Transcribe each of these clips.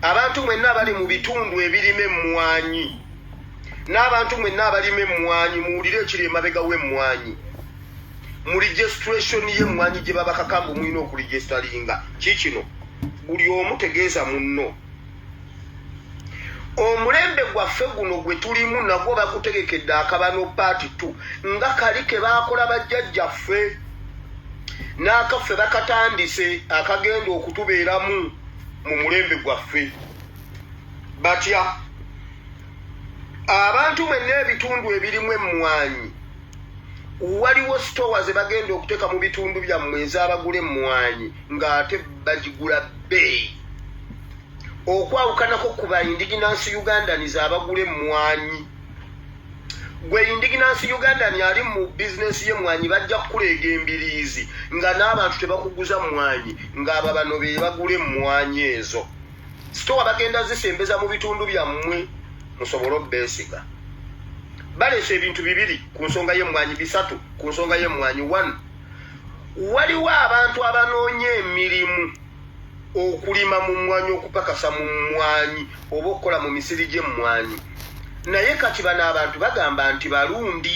abantu mwenna abali mu bitundu ebirima emmwanyi n'abantu mwenna abalima emmwanyi muwulire ekiri emabega w'emmwanyi mu registration y'emmwanyi gye babakaka mbu mulina okuregisteringa kiikino buli omu tegeeza munno omulembe gwaffe guno gwe tulimu nagwo bakutegekedde akabano paati t nga kali ke baakola bajjajjaffe n'akaffe bakatandise akagenda okutubeeramu mu mulembe gwaffe batya abantu mwenna ebitundu ebirimu emmwanyi waliwo sitowa ze bagenda okuteeka mu bitundu byammwe ez'abagula emmwanyi ng'ate bagigula bbeeyi okwawukanako ku ba indiginansi ugandans abagula emmwanyi gwe indiginansi ugandan ali mu bizinensi y'emmwanyi bajja kukuleega embiriizi nga n'abantu tebakuguza mmwanyi ng'aba bano be bagula emmwanyi ezo sitowa bagenda zisembeza mu bitundu byammwe musobole obeesiga baleese ebintu bibiri ku nsonga y'emmwanyi bisatu ku nsonga y'emmwanyi one waliwo abantu abanoonya emirimu okulima mu mmwanyi okupakasa mu mmwanyi oba okukola mu misiri gy'emmwanyi naye kati bano abantu bagamba nti balundi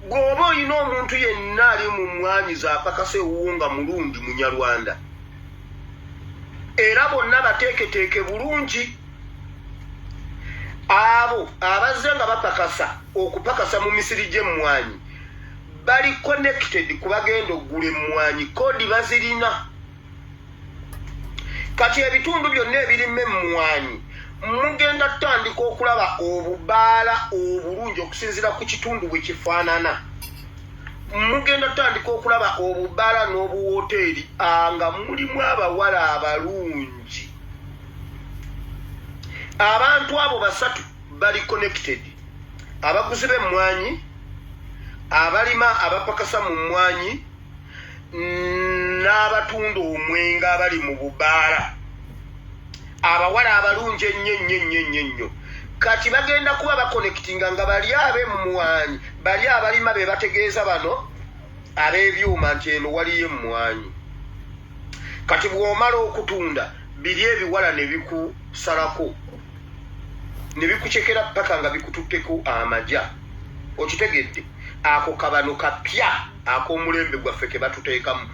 bw'oba olina omuntu yenna ali mu mmwanyi zaapakasa ewuwo nga mulundi munyarwanda era bonna bateeketeeke bulungi abo abazze nga bapakasa okupakasa mu misiri gy'emmwanyi bali connected ku bagenda okugula emmwanyi kodi bazirina kati ebitundu byonna ebirima emmwanyi mugenda tutandika okulaba obubaala obulungi okusinziira ku kitundu bwe kifaanana mugenda tutandika okulaba obubala n'obuwoteeri ah, nga mulimu abawala abalungi abantu abo basatu bali connected abaguzi b'emmwanyi abalima abapakasa mu mmwanyi n'abatunda omwenga abali mu bubaala abawala abalungi ennyo ennyo ennyo ennyo ennyo kati bagenda kuba bakonekitinga nga bali abemmwanyi bali abalima be bategeeza bano ab'ebyuma nti eno waliyo emmwanyi kati bw'omala okutunda biri ebiwala ne bikusalako ne bikucekera paka nga bikututteko amaja okitegedde ako kabano kapya ak'omulembe gwaffe ke batuteekamu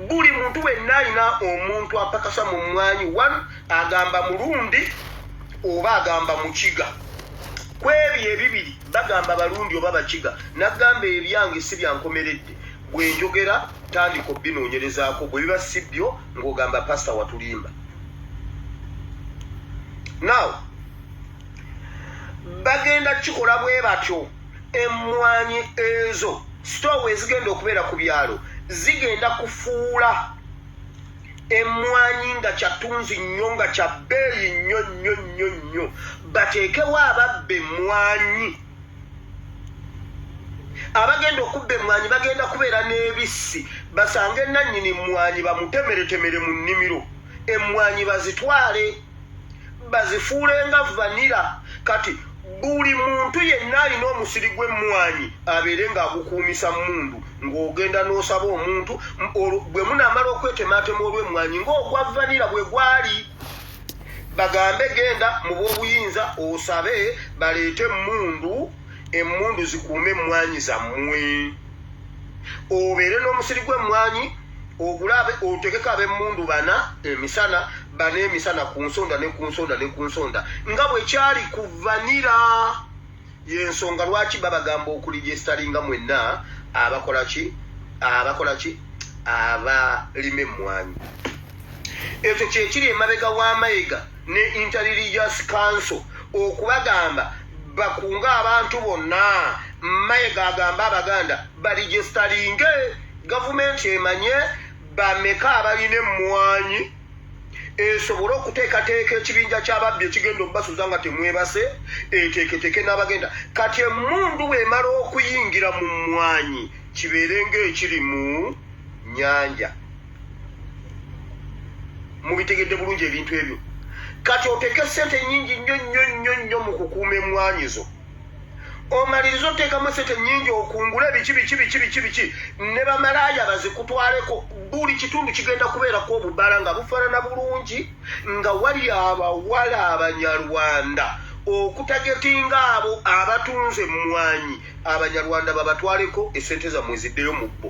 buli muntu wenna alina omuntu apakasa mu mmwanyi one agamba mulundi oba agamba mukiga ku ebyo ebibiri bagamba balundi oba bakiga nagamba ebyange si byankomeredde bwe njogera tandika obinoonyerezaako bwe biba si byo ng'ogamba pasita watulimba now bagenda kukikola bwe batyo emmwanyi ezo sitoowa ezigenda okubeera ku byalo zigenda kufuula emmwanyi nga kyatunzi nnyo nga kya bbeeyi nnyo nnyo nnyo nnyo bateekewo ababba emmwanyi abagenda okubba emmwanyi bagenda kubeera n'ebissi basange nannyini mmwanyi bamutemeretemere mu nnimiro emmwanyi bazitwale bazifuule nga vanira kati buli muntu yenna alina omusiri gw'emmwanyi abeere ng'agukuumisa mundu ng'ogenda n'osaba omuntu bwe munaamala okwetemaatema olw'emmwanyi ng'ogwa vanira bwe gwali bagambe genda mu b'obuyinza osabe baleete emmundu emmundu zikuume emmwanyi zammwe obeere n'omusiri gw'emmwanyi ogulabe otegeko ab'emmundu bana emisana bba n'emisana ku nsonda ne ku nsonda ne ku nsonda nga bwe kyali ku vanira y'ensonga lwaki babagamba okulijesitalinga mwenna abakola ki abakola ki abalima emmwanyi ekyo kyekiri emabega wa mayega ne interreligious council okubagamba bakunga abantu bonna mayega agamba abaganda balijesitalinge gavumenti emanye Bameka abalina emmwanyi esobole okuteekateeka ekibinja ky'ababbi ekigenda okubasuza nga temwebase eteeketeeke n'abagenda kati emmundu bw'emala okuyingira mu mmwanyi kibeere ng'ekiri mu nnyanja mubitegedde bulungi ebintu ebyo kati oteeke ssente nnyingi nnyo nnyo nnyo nnyo mu kukuuma emmwanyi zo omaliriza oteekamu esente nyingi okungula ebiki biki biki biki biki ne bamalaaya bazikutwaleko buli kitundu kigenda kubeerako obubala nga bufaanana bulungi nga wali abawala abanyarwanda okutagetinga abo abatunze emmwanyi abanyarwanda babatwaleko esente zamwe ziddeyo mu bbo